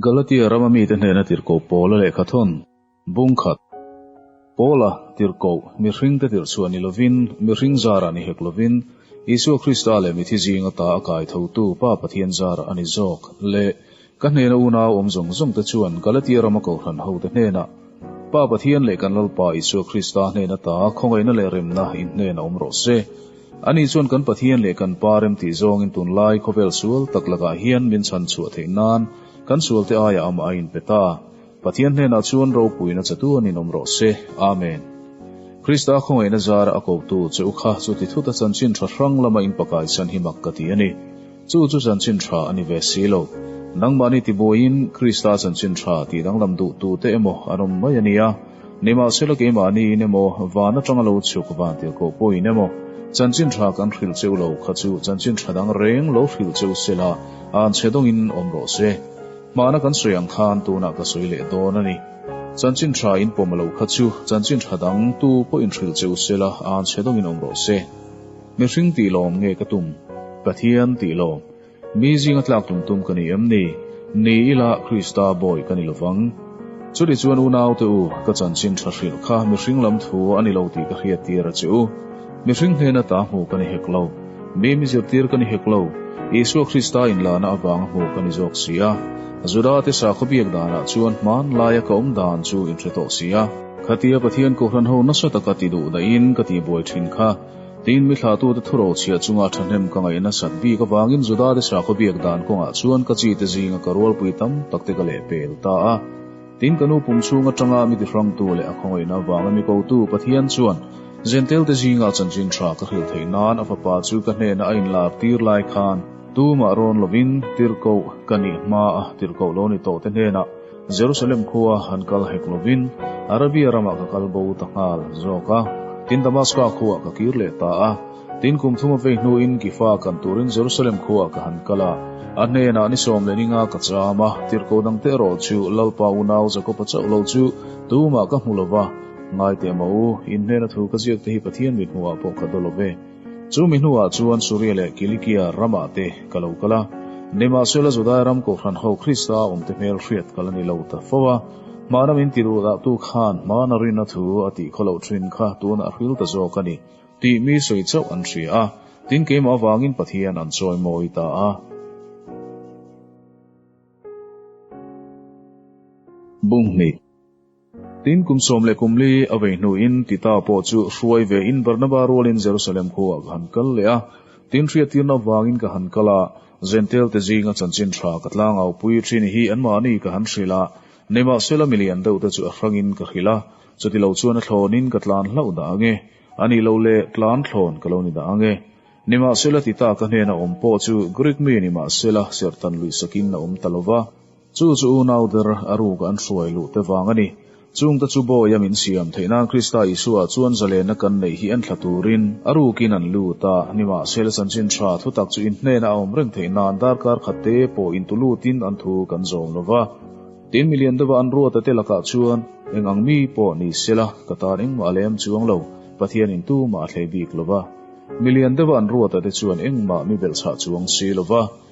Galatia rama mite hnena tirhkoh Paula lehkha thawn bung khat, Paula tirhkoh mihringte tirhchhuah ni lovin, mihring zarah ni hek lovin, Isua Krista leh mithi zinga ta a kai thotu Pa Pathian zarah a ni zawk leh ka hnena unau awm zawng zawngte chuan Galatia rama kohhran hote hnenah, Pa Pathian leh kan Lalpa Isua Krista hnen ata khawngaihna leh remna inhnen a awm rawh se. Ani chuan kan Pathian leh kan Pa rem tih zawngin tunlai khawvel sual tak lakah hian min chhan chhuah theih nan kan sualte aiah amah a inpe ta. Pathian hnenah chuan ropuina chatu an inawm rawh se. Amen. Krista khawngaihna zara a kotu Cheukha chuti thuta chanchin tha hrang lama inpakaisan hi mak ka ti a ni. Chu chu chanchin tha a ni ve si lo. Nangmahni ti buaiin Krista chanchin tha tih danglam duhtu te emaw an awm mai a nia. Nimahsela keimahniin emaw, van atanga lo chhuk vantir kawh pawhin emaw, chanchin tha kan hrilh cheu lo kha chu chanchin tha dang reng lo hrilh cheu se la, an che dawngin awm rawh se. Hmana kan sawi ang khan tunah ka sawi leh dawn a ni. Chanchin tha inpawm lo kha chu chanchin tha dang tu pawhin hrilh cheu se la, an che dawngin awm rawh se. Mihring tih lawm nge ka tum? Pathian tih lawm mi zinga tlak tum tum ka ni em ni? Ni ila Krista Bawi ka ni lovang. Chutih chuan unaute u, ka chanchin tha hrilh kha mihring lam thu a ni lo tih ka hriat tir a che u. Mihring hnena ta hmuh ka ni hek lo. Mi mi zirtir ka ni hek lo. Isua Krista inlana avanga hmuh ka ni zawk si a. Judate sa khawbiak danah chuan hmanlaia ka awm dan chu in hre tawh si a. Khatia Pathian kohhran ho nasa taka ti duh dahin ka tihbuai thin kha Tiin mi thlatute thu rochhia chunga thahnem ka ngaih nasat bik avangin Judate sakhaw biak dan kawngah chuan ka chite zinga ka rualpui tam takte ka leh pel ta a. Tin ka nu pum chhung atanga mi tihrangtu leh a khawngawihna avanga mi kotu Pathian chuan Jentalte zinga chanchin tha ka hrilh theih nan a fapa chu ka hnena a inlak tir lai khan tumah rawn lovin tirhkoh ka nih hma a tirhkoh lo ni tawhte hnenah Jerusalem khua an kal hek lovin Arabia ramah ka kal bo ta nghal zawk a, tin Damaska khuah ka kir leh ta a. Tin kum thuma vei hnuin Gifa kan turin Jerusalem khuah ka han kal a, a hnenah ni sawm leh ni nga ka cham a, tirhkoh dangte erawh chu Lalpa unau Jakopa chauh lo chu tumah ka hmu lo va, ngai teh maw u, in hnena thu ka ziak te hi Pathian mithmuhah pawh ka daw lo ve. Chu mi hnuah chuan Suria leh Kilikia ramah te ka lo kal a, nimahsela Judai ram kohhran ho Krista a awmte hmel hriat kal a ni lo ta fo a, hmana min ti duh dahtu khan hmana rinna thu a tih khaw loh thin kha tunah a hrilh ta zawk a ni tih mi sawi chauh an hria a, tin keimah avangin Pathian an chawimawi ta a. Bunghnih. Tin, kum sawm leh kum li a vei hnuin Tita pawh chu hruai ve in Barnaba rualin Jerusalem khuaah ka han kal leh a, tin hriattirna vangin ka han kal a, Zentail te zinga chanchin tha ka tlang au pui thin hi anmah ani ka han hrilh a, nimahsela milian deuh te chu a hrangin ka hrilh a, chuti lo chuan a thlawnin ka tlan hlauh dah ang e, ani lo le tlan thlawn ka lo ni dah ang e. Nimahsela Tita ka hnena awm pawh chu Greek mi nimahsela serhtan luihsakin a awm ta lo va. Chu chu unau ber a ruka an hruai luh te vang a ni. Chung te chu Bawiha min siam theih nan Krista Isua chuan zalenna kan neih hi entla turin a rukin an lut a, nimahsela chanchin tha thutak chu inhnena a awm reng theih nan darkar khat te pawh intu lutin an thu kan zawm lo va. Tin mi lian deuha an ruata te lakah chuan eng ang mi pawh ni sela ka tan engmah a lem chuang lo, Pathian in tu mah a thlei bik lo va. Mi lian deuha an ruata te chuan engmah mi belh chhah chuang si lo va.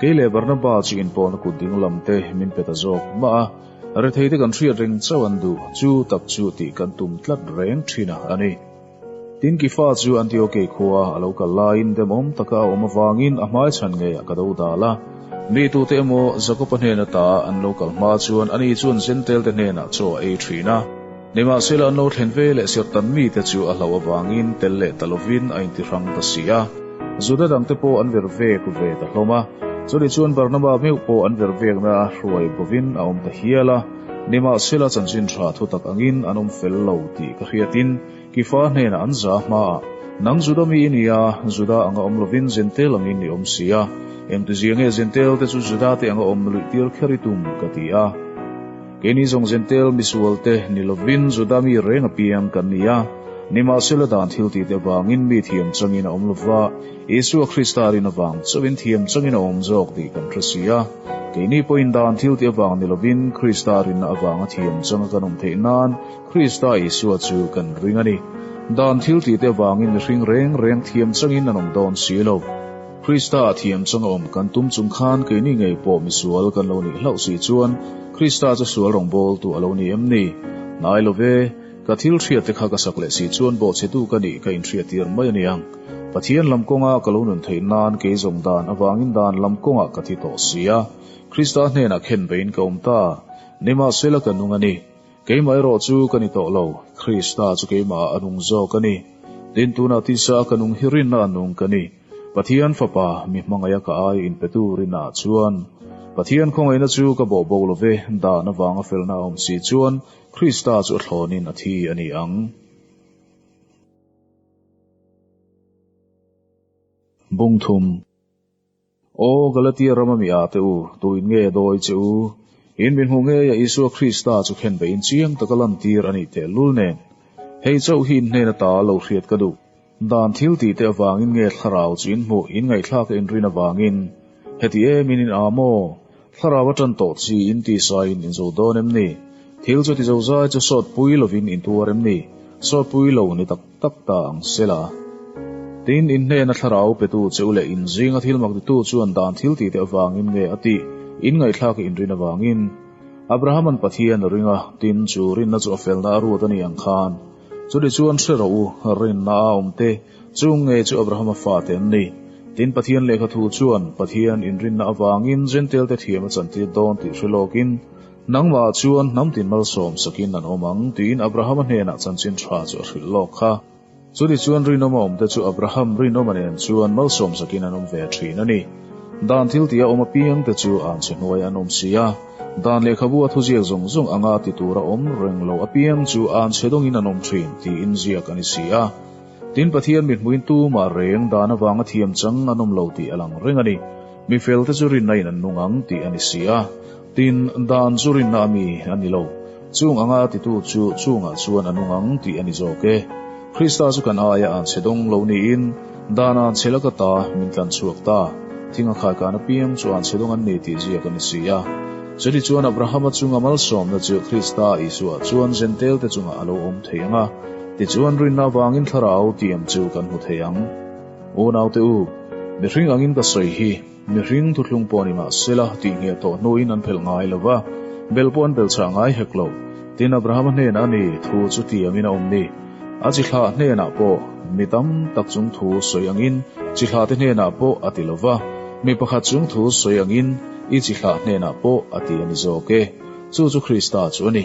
Kei leh Barnabas-i inpawhna kut ding lam te min pe ta zawk mah a, retheite kan hriat reng chauh an duh chu tak chu tih kan tum tlat reng thin a ni. Tin Kefa chu Antioke khua a lo kal laiin demawm taka a awm avangin a hmai chhan ngei a ka do dal a, mi tute emaw Jakopa hnena ta an lo kal hma chuan ani chuan Jentalte hnenah chaw a ei thin a. Nimahsela an lo thlen ve leh serhtan mite chu a hlo avangin tel leh ta lovin a intihrang ta si a, Juda dangte pawh an ver vek ve ta hlawm a. Chutih chuan Barnaba meuh pawh an ver vekna a hruai bovin a awm ta hial a. Nimahsela chanchin tha thutak angin an awm fel lo tih ka hriatin Kefa hnenah an za hmaah, Nang Juda mi i ni a, Juda anga awm lovin Jentail angin ni awm si a, engtiziange Jentail te chu Juda te anga awm luihtir kher i tum ka ti a. Keini zawng Jentail misual te ni lovin Juda mi reng apiang kan ni a, nimahsela dan thil ti te vangin mi thiam changin a awm lova, Isua Krista rin avang chauhin thiam changin a awm zawk tih kan hre si a. Keini pawhin dan thil ti avang ni lovin Krista rinna avanga thiam changa kan awm theih nan Krista Isua chu kan ring a ni. Dan thil ti te vangin mihring reng reng thiam changin an awm dawn si lo. Krista a thiam chang awm kan tum chung khan keini ngei pawh misual kan lo nih hlauh si chuan Krista chu sual rawngbâwl tu a lo ni em ni? Nai lo ve. Ka thil hriat te kha ka sak leh si chuan Bawhchhetu ka nih ka inhriat tir mai a ni ang. Pathian lam kawnga ka lo nun theih nân kei zawng dân avângin dân lam kawngah ka thi tawh si a, Krista hnênah khen veiin ka awm ta. Nimahsela ka nung a ni. Keimah erawh chu ka ni tawh lo. Krista chu keimahah a nung zâwk a ni. Tin tûnah tisa ka nung hi rinna a nung ka ni. Pathian Fapa mi hmangaih a ka ai in pe tur in ah chuan Pathian khawngaihna chu ka bawhbawh lo ve, dan avanga felna a awm si chuan Krista chu a thlawn in a thi a ni ang. Bung thum. Aw Galatia ram ami ah te u, tuin nge dawi che u, in min hmuh ngei a Isua Krista chu khenbei in chiang taka lantir a nih thehlul nen, hei chauh hi in hnen ata lo hriat ka duh. Dan thil tih te avangin nge thlarau chu in hmuh in ngaihthlak a inrin avangin heti e min in a maw? Thlarau a tan tawh chi in tisa in inzo dawn em ni? Thil chu ti zozai chu sawtpui lovin in tuar em ni? Sawtpui lo ni tak tak ta ang se la. Tin, in hnena thlarau petu cheu leh in zinga thil mak ditu chuan dan thil tih te avangin nge a tih in ngaihthlak a inrin avangin Abrahaman Pathian a ring a, tin chu rinna chu a felna a ruat a ni ang khan. Chutih chuan hre rawh u, rinna a awm te chu ngei chu Abrahama fate an ni. Tin, Pathian lehkha thu chuan Pathian inrinna avangin Jentalte thiam a chantir dawn tih hre lawkin, Nangmah chuan hnam tin malsawm sakin an awm ang, tiin Abrahama hnenah chanchin tha chu a hrilh lawk kha. Chutih chuan rinawma awmte chu Abraham rinawma nen chuan malsawm sakin an awm ve thin a ni. Dan thil tih a awm apiang te chu an chhe hnuai an awm si a, dan lehkhabu a thuziak zawng zawng anga ti tur a awm reng lo apiang chu an chhe dawngin an awm thin tih inziak a ni si a. Tin, Pathian mihmuin tumah reng dan avanga thiam chang an awm lo tih a lang reng a ni. Mi fel te chu rinna in an nung ang tih a ni si a, Tin, dan chu rinna a mi a ni lo. Chung anga a titu chu chungah chuan a nu ngang tih a ni zawk e. Krista chu kan aia an chhe dawng lo niin, dan an chhe la ka ta, min tlan chhuak ta. Thing a khai kan apiang chu an chhe dawng an ni tih ziak a ni si a. Chutiang chuan Abraham-a chunga malsawmna chu Krista Isuah chuan Jentalte chungah a lo awm thei ang a, tichuan rinna avangin thlarau tiam chu kan hmu thei ang. Unaute u, mihring angin ka sawi hi. Mihring thuthlung pawh a ni mah se la, tih ngheh tawh hnuin an phelh ngai lo va, bel pawh an bel chah ngai hek lo, tin Abrahama hnenah a ni, thu chu ti amin a awm ni? A chi hlah hnenah pawh, mi tam tak chung thu sawi angin, chi hlah te hnenah pawh a ti lo va, mi pakhat chung thu sawi angin, i chi hlah hnenah pawh a ti a ni zawk e. Chu chu Krista chu a ni.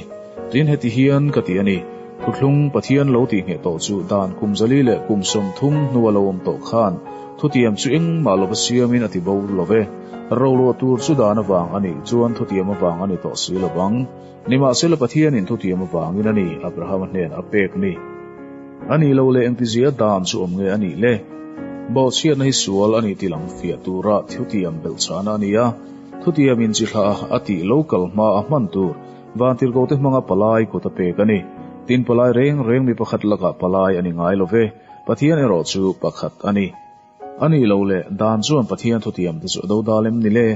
Tin heti hian ka ti a ni, Thutthlung Pathian lo tih ngheh tawh chu dan kum zali leh kum sawmthum hnu a lo awm tawh khan thutiam chu engmah lova siamin a ti bo lo e. Rolo tur chu dan avang a nih chuan thutiam avang a ni tawh si lo vang. Nimahsela Pathianin thutiam avangin a ni Abrahama hnenah a pek ni. A ni lo leh engtizia dan chu awm nge a nih le? Bawhchhiatna hi sual a nih tih lamfiah tura thutiam belhchhahna a nia. Khutiam in chi hlah a, a tih lo kal hma a hman tur Vantirgote hmanga palai kut a pek a ni. Tin palai reng reng mi pakhat lakah palai a ni ngai lo ve. Pathian erawh chu pakhat a ni. A nih loh leh dan chuan Pathian thutiam te chu a do dal em ni le?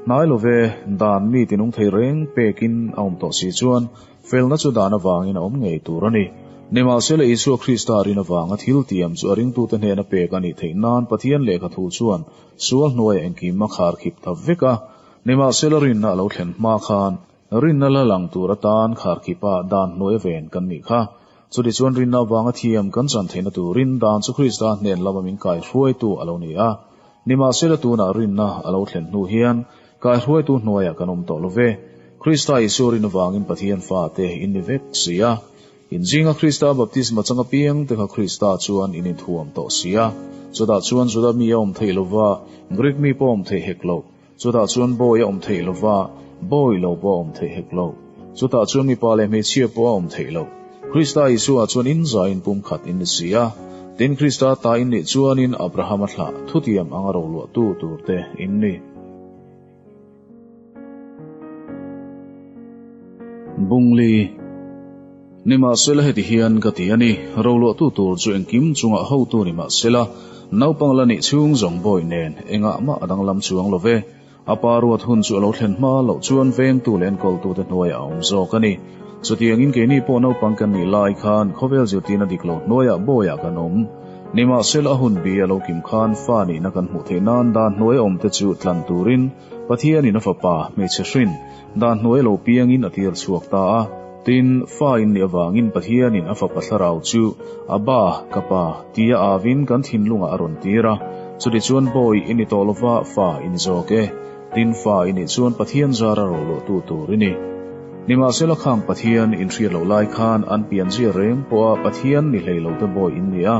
Hnai lo ve, dan mi tinung thei reng pek in a awm tawh si chuan felna chu dan avang in a awm ngei tur a ni. Nimahsela Isua Krista rin avanga thil tiam chu a ringtute hnena pek a nih theih nan Pathian lehkha thu chuan Chu a hnuaia engkim a khar khip ta vek a, nimahsela rinna a lo thlen hma khan rinna la lang tur atan khar khipa dan hnuai a ven kan nih kha. Chutichuan rinna avanga thiam kan chan theihna turin dan chu Krista hnen lama min kaihruaitu a lo ni a, nimahsela tunah rinna a lo thlen hnu hian kaihruaitu hnuaia kan awm tawh lo ve. Krista Isua rin avangin Pathian Fate in ni vek si a, Inzinga Krista baptisma chang apiang te kha Krista chuan in inthuam tawh si a, chutah chuan Juda mi a awm theih lova, Greek mi pawh a awm theih hek lo, chutah chuan bawi a awm theih lova, bawi lo pawh a awm theih hek lo, chutah chuan mipa leh hmeichhia pawh a awm theih lo. Krista Isuah chuan in zai in pumkhat in ni si a, tin Krista ta in nih chuanin Abrahama thlah thutiam anga roluahtu tur te in ni. Bungli, Nimahsela heti hian ka ti a ni, roluahtu tur chu engkim chunga hotu ni mahsela, naupang la nih chhung zawng bawi nen engah mah a danglam chuang lo ve. A pa ruat hun chu a lo thlen hma loh chuan vengtu leh an kawltute hnuaia a awm zawk a ni. Chutiangin keini pawh naupang kan nih lai khan khawvel zirtirna dik lo hnuaia bawiah kan awm. Nimahsela a hun bi a lo kim khan fa nihna kan hmuh theih nan dan hnuai awm te chu tlan turin Pathian in a fapa hmeichhe hrin dan hnuai lo piangin a tir chhuak ta a. Tin, fa inneih avangin Pathian in a fapa thlarau chu a ba, ka pa, tia avin kan thinlungah a rawn tir a. Chutichuan bawiin i tawh lova fa, in zawk e. Dinfa i nih chuan Pathian zar a rohluahtu tur i ni. Nimahsela khang Pathian in hriat loh lai khan an pian zia reng pawh a Pathian ni hlei lo te Bawi in ni a,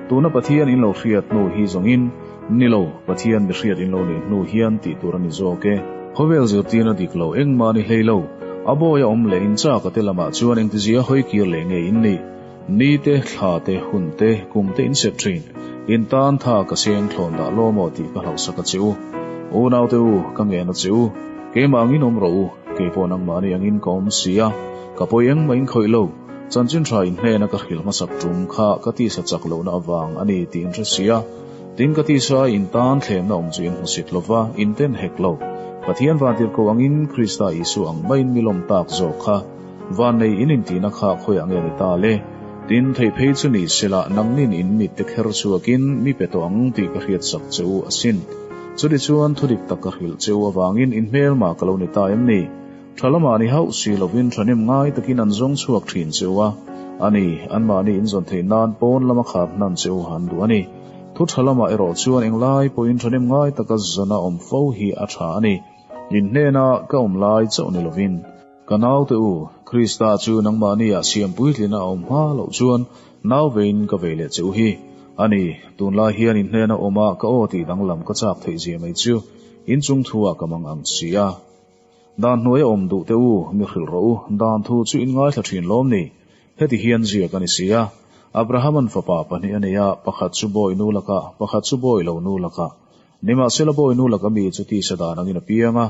tuna Pathian in lo hriat hnu hi zawngin, Ni lo, Pathian mi hriat in lo neih hnu hian tih tur a ni zawk e. Khawvel zirtir na dik lo, engmah ni hlei lo, a Bawi a awm leh in chak a te lamah chuan engtizia hawi kir leh ngei in ni. Ni te, thla te, hun te, kum te in sep thin. In tan tha ka siam thlawn dah law maw tih ka hlauhsak a che u. U naute u, ka ngen a che u. Keimah angin awm rawh u. Kei pawh nangmahni angin ka awm si a. Ka pawi engmah in khawih lo. Chanchinhra in hnena ka hrilh hmasak tum kha ka tisa chak lohna avang a ni tih in hre si a. Tin ka tisa in tan thlenna awm chu in hmu sit lo va, in ten hek lo. Pathian vantir ko angin Krista Isua ang maiin milawm tak zawk kha Vannei in intihna kha khawi ah nge ni ta le? Tin, theih phei chu nih sela nangin in mit te kher chhuakin mi pe tawh ang tih ka hriat sak che u asin. Chutih chuan thudik tak ka hrilh che u avangin in hmelma ka lo ni ta em ni? Tha lamah ni hauh si lovin thahnem ngai takin an zawng chhuak thin che u a. Ani, anmahni in zawn theih nan pawn lama khar hnan che u han duh a ni. Thu tha lamah erawh chuan englai pawhin thahnem ngai taka zawna awm fo hi a tha a ni. In hnena ka awm lai chauh ni lovin. Ka naute u, Krista chu nangmahni ah siam puitlin a awm hma loh chuan nau vein ka vei leh che u hi. A ni, tunlai hian in hnena awma ka aw tih danglam ka chak theih zia mai chu in chung thu ah ka mang ang si a. Dan hnuai a awm duhte u, mi hrilh rawh u, dan thu chu in ngaithla thin lawm ni. Heti hian zia ka ni si a, Abraham-an fapa pahnih a nei a, pakhat chu bawi nu lakah, pakhat chu bawi lo nu lakah. Nimahsela bawi nu laka mi chu tisa dan angin a piang a,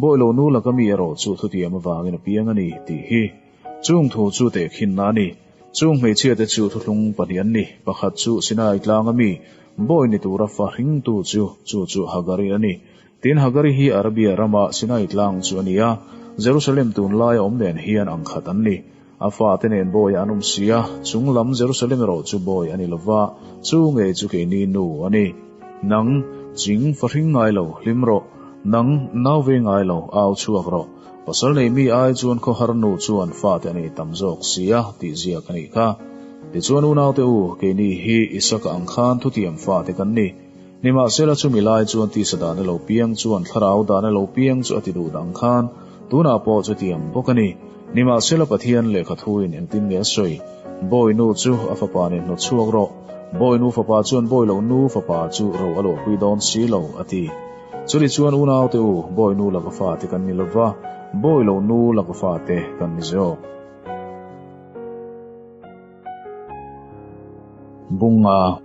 bawi lo nu laka mi erawh chu thutiam avangin a piang a ni tih hi. Chung thu chu teh khinna a ni. Chung hmeichhia te chu thuhlung pahnih an ni, pakhat chu Sinai tlanga mi bawi ni tura fa hring tu chu, chu chu Hagari a ni. Tin, Hagari hi Arabia rama Sinai tlang chu a ni a, Jerusalem tunlai a awm nen hian ang khat an ni. A fate nen Bawiah an awm si a, chung lam Jerusalem erawh chu Bawi a ni lo va, chu ngei chu kei ni nu a ni. Nang, ching fahring ngai lo, hlim rawh, nang, nau ve ngai lo, au chhuak rawh. Pasal nei mi ai chuan khawhar nu chuan fate a nih tam zawk si a, tihzia ka nih kha. Tichuan, Unaute u, keini hi Isaka ang khan thutiam fate kan ni. Nimahsela chumi lai chuan tisa dan a lo piang chuan thlarau dan a lo piang chu a ti duh dang khan tunah pawh chu a ti ang bawk a ni. Nimahsela Pathian lehkha thuin engtin nge a sawi? Bawi nu chu a fapa nen hnawt chhuak rawh. Bawi nu fapa chuan bawi lo nu fapa chu ro a luahpui dawn si lo a ti. Chutih chuan unaute u bawi nu laka fate kan ni lova, bawi lo nu laka fate kan ni zawk. Bunga,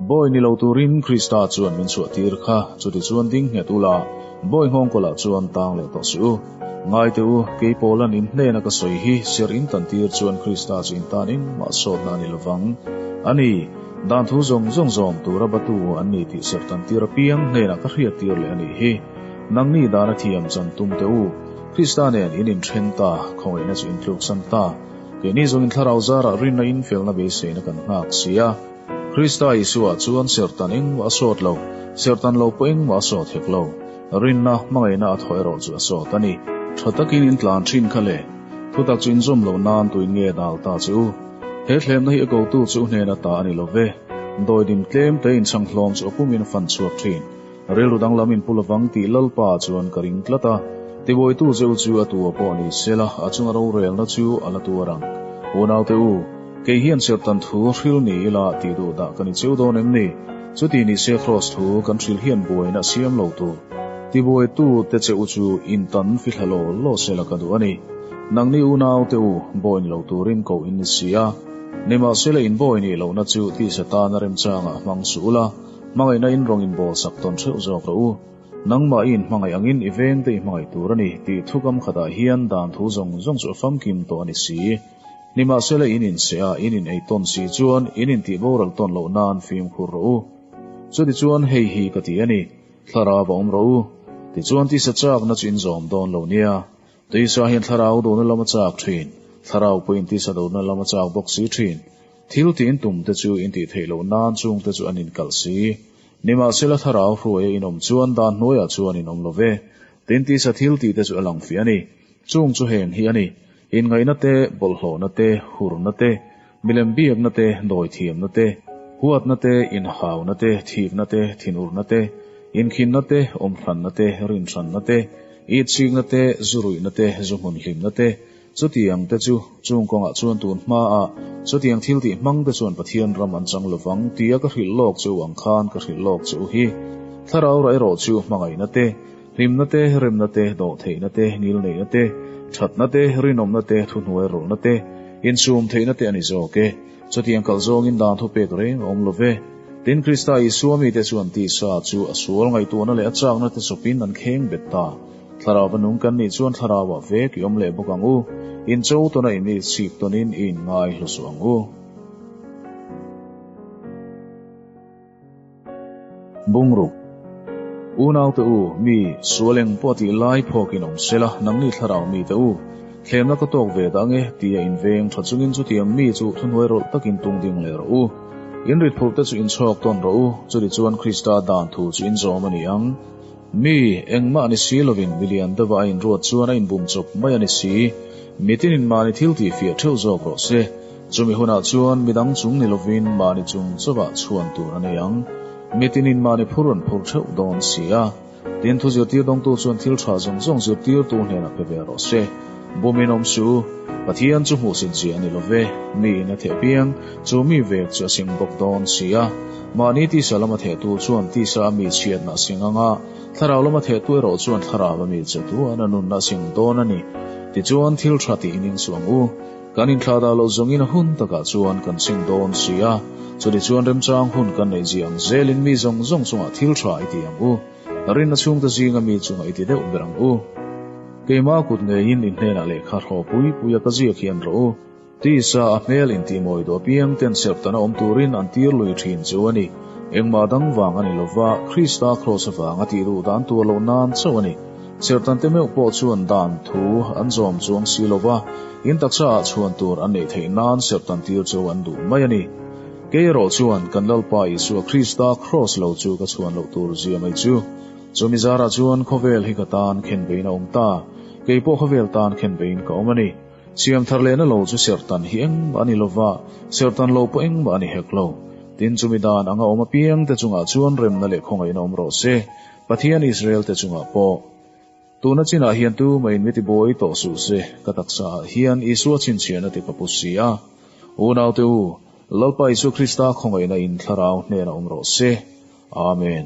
Bawi ni lo turin Krista chuan min chhuahtir kha, chuti chuan ding nghet ula, Bawi nghawng kawlah chuan tang leh tawh si u. Ngaite u, kei pawlan in hnena ka sawi hi, ser in kan tir chuan Krista chu in tan engmah sawtna a ni lovang a ni. Dan thu zawng zawng zawm tura Batu an ni tih ser tan tir apiang hnena ka hriat tir leh a nih hi. Nangni dana thiam chan tum teh u. Krista nen in inthen ta, khawngaihna chu in tluksan ta. Keini zawngin thlarau zarah rinna infialna beiseina kan nghak si a. Krista Isua chuan serhtan engmah a sawt lo, serhtan lo pawh engmah a sawt hek lo. Rinna, hmangaihna a thaw erawh chu a sawt a ni. Tha takin in tlan thin kha le. Thutak chu inzawm lo nan tuin nge dal ta che u. He thlehna hi a kotu chu u hnena ta a ni lo ve. Dawidim tlemte inchhang hlawm chu a pumin a fan chhuak thin. Rilru danglam in pu lovang tih Lalpa chuan ka ring tlat a, Tibuaitu zeu chu a tua pawh ni se la, a chunga rorelna chu a la tua rang. Unaute u, kei hian serhtan thu hril ni ila ti duh dah ka ni cheu dawn em ni? Chuti ni se Kraws thu kan hril hian buaina siam lo tur Tibuaitu te che u chu in tan fi hla law law se la ka duh a ni. Nang ni unaute u, bawiin lo turin ko in ni si a, nimahsela in bawi nih lohna chu tisa tana remchangah hmang suh ula, Hmangaihna in rawn inbawlsak tawn theuh zawk rawh u. Nangmah i inhmangaih angin i veng te i hmangaih tur a ni tih thu gam khatah hian dan thu zawng zawng chu a famkim tawh a ni si. Nimahsela in inseh a, in inei tawn si chuan in intih boral tawn loh nan fimkhur rawh u. Chuti chuan hei hi ka ti a ni, thlarau a awm rawh u. Tichuan tisa chakna chu in zawm dawn lo nia. Tisa hian thlarau dun a lawm a chak thin, thlarau pawhin tisa dun a lawm a chak bawk si thin. Thil tiin tumte chu intih theih loh nan chungte chu an inkalh si. Nimahsela thlarau hruai a inawm chuan dan hnuaiah chuan inawm lo ve. Tin tisa thil tihte chu a lang fiah a ni. Chung chu heng hi a ni, Inngaihna te, bawlhhlawhna te, hurna te, Milem biakna te, dawi thiamna te, huatna te, inhauna te, thikna te, thinurna te, inkhinna te, awm hlanna te, rinhranna te, itchikna te, zu ruihna te, zu hmun hlimna te, chutiang te chu, chung kawngah chuan tun hma a, chutiang thil tih hmang te chuan Pathian ram an chang lovang tia ka hrilh lawk che u ang khan ka hrilh lawk che u hi. Thlarau rah erawh chu hmangaihna te, Hlimna te, remna te, dawh theihna te, nil neihna te, thatna te, rinawmna te, thuhnuai rawlhna te, insum theihna te a ni zawk e. Chutiang kal zawngin dan thu pek reng a awm lo ve. Tin, Krista Isua mite chuan tisa chu a sual ngaihtuahna leh a chakna te chawpin an kheng bet ta. Thlarauva nung kan nih chuan thlarauah vek i awm leh bawk ang u. In cho tawn a in i chhip tawnin i inngai hlusuh ang u. Bungruk, U naute u, mi sual eng pawh a tih lai phawkin awm sela, nang ni thlarau mite u, thlemna ka tawk ve dah nge ti a inveng tha chungin chutiang mi chu thunuai rawlh takin tung ding leh rawh u. In rit phurh te chu in chhawk tawn rawh u, churi chuan Krista dan thu chu in zawm a ni ang. Mi engmah ni si lovin mi lian deuha a inruat chuan a inbum chawp mai a ni si. Mitin in mahni thil tihfiah theuh zawk rawh se. Chumi hunah chuan midang chung ni lovin mahni chung chauhah chhuan tur a nei ang. Mitin in mahni phur rawn phur theuh dawn si a. Tin, thu zirtir dawngtu chuan thil tha zawng zawng zirtirtu hnenah pe ve rawh se. Bumin awm su. Pathian chu hmuhsin chi a ni lo ve. Niin a theh piang. Chu mi vek chu a sing bawk dawn si a. Mahni tisa lama thehtu chuan tisa a mi chhiatna a sing anga, thlarau lama thehtu erawh chuan thlarau a mi chetu a na nunna a sing dawn a ni. Tichuan, thil tha ti ining suang u. Kan inthlah dah loh zawngin a hun takah chuan kan ching dawn si a, chutichuan remchang hun kan neih zia ang zelin mi zawng zawng chungah thil tha i ti ang u, ka rin a chhungte zinga mi chungah i ti deuh ber ang u. Keimah kut ngeiin i hnenah lehkha hraw pui puia ka ziak hian rawh u, tisa a hmel intimawi duh apiang ten serhtanah awm turin an tir lui thin chu a ni. Engmah dang vang a ni lova, Krista Kraws avanga tih duh dan tur lo nan chauh a ni. Sertante meuh pawh chuan dan thu an zawm chu an si lo va, in taksa ah chhuan tur an neih theih nan sertantir chu an duh mai a ni. Kei erawh chuan kan Lalpa Isua Krista Kraws lo chu ka chhuan loh tur zia mai chu. Chumi zar ah chuan khawvel hi ka tan khen veiin a awm ta. Kei pawh khawvel tan khen veiin ka awm a ni. Siam thar lehna lo chu sertan hi engmah a ni lo va, sertan lo pawh engmah a ni hek lo. Tin chumi dan anga awm apiang te chungah chuan remna leh khawngaihna awm rawh se. Pathian Israelte chungah pawh. Tuna chinah hian tu mai in miti buai tawh suh se, ka taksa ah hian Isua chhinchhiah na te ka pu si a. Unaute u, Lalpa Isu Krista khawngaihna in thlarau hnena awm rawh se. Amen.